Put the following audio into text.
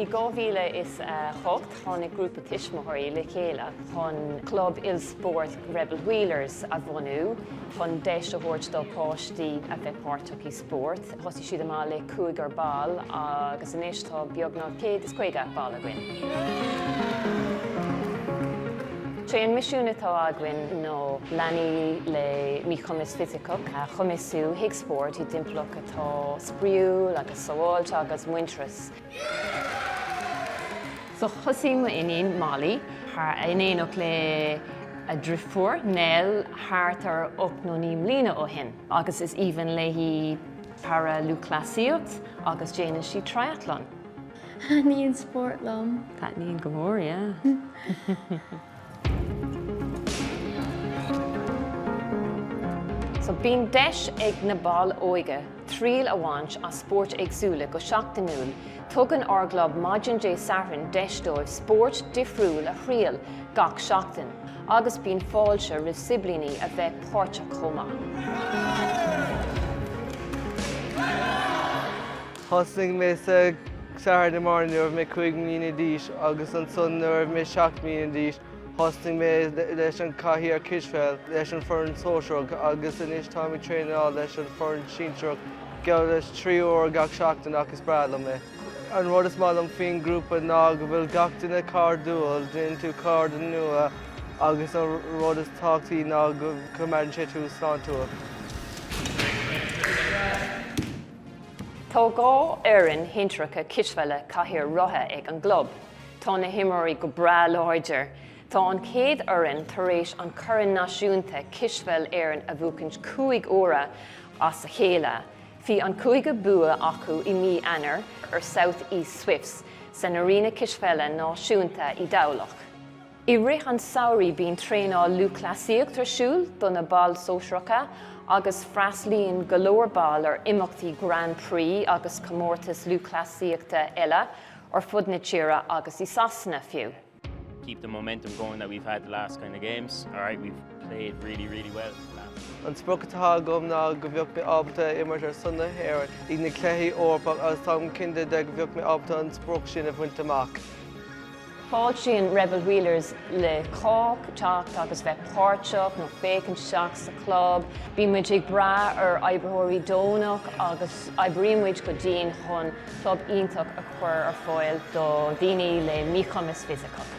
I 2008 tháinig grúpa tuismitheoirí le chéile chun club ilspóirt Rebel Wheelers a bhunú chun deis a thabhairt do páistí a bheith páirteach i spórt. Thosaigh siad amach le cúigear ball agus anois tá beagnach 150 ball againn. Sé an misiún atá againn ná leanaí le míchumas fisiceach a chumasú trí spórt i dtimpeallacht atá spraíúil agus sabháilte agus muinteartha. So thosaigh m'iníon, Molly, in éineacht le a driofúr, Nell, thart ar ocht nó naoi mbliana ó shin agus is aoibhinn léi para-lúthchleasaíocht agus déanann sí triathlon. Taitníonn spórt liom. Taitníonn go mór, yeah. So bíonn deis ag na baill óige triail a bhaint as spóirt éagsúla go seachtainiúil. Tugann ár gclub maidin Dé Sathairn deis dóibh spórt difriúil a thriail gach seachtain agus bíonn fáilte roimh siblíní a bheith páirteach chomh maith. Thosnaigh mé sa Saturday Morning Club nuair a bhí mé cúig mbliana d'aois agus ansan nuair a bhí mé seacht mbliana d'aois thosnaigh mé leis an chathaoir cispheil leis an fhoireann sóisearach agus anois táim ag traenáil leis an fhoireann sinsearach geall leis trí uair gach seachtain ach is breá liom é. An rud is maith liom faoin ghrúpa ná go bhfuil gach duine cairdiúil, déanann tú cairde nua agus an rud is tábhachtaí ná go coimeádann sé tú sláintiúil. Tá dhá fhoireann shinsearacha cispheile cathaoir rotha ag an gclub. Tá na himreoirí go breá láidir. Tá an chéad fhoireann tar éis an corn náisiúnta cispheil Éireann a bhuachaint cúig uaire as a chéile. Bhí an cúigiú bua acu i mí Eanáir ar South East Swifts san Arena Cispheile Náisiúnta i dTamhlacht. I rith an samhraidh bíonn traenáil lúthchleasaíocht ar siúl do na baill sóisearacha agus freastlaíonn go leor ball ar imeachtaí Grand Prix agus comórtais lúthchleasaíochta eile ar fud na tíre agus i Sasana fiú. keep the momentum going that we've had the last kind of games. Alright, we've played really, really well the last few. An sprioc atá agam ná go mbeadh mé ábalta imirt ar son na hÉireann ag na cluichí Eorpach agus táim cinnte de go mbeadh mé ábalta an sprioc sin a bhaint amach. Fáiltíonn Rebel Wheelers roimh chách teacht agus bheith páirteach nó féachaint isteach sa chlub. Bíonn muid ag brath ar oibritheoirí deonach agus oibríonn muid go dian chun club iontach a chur ar fáil do dhaoine le míchumas fisiceach.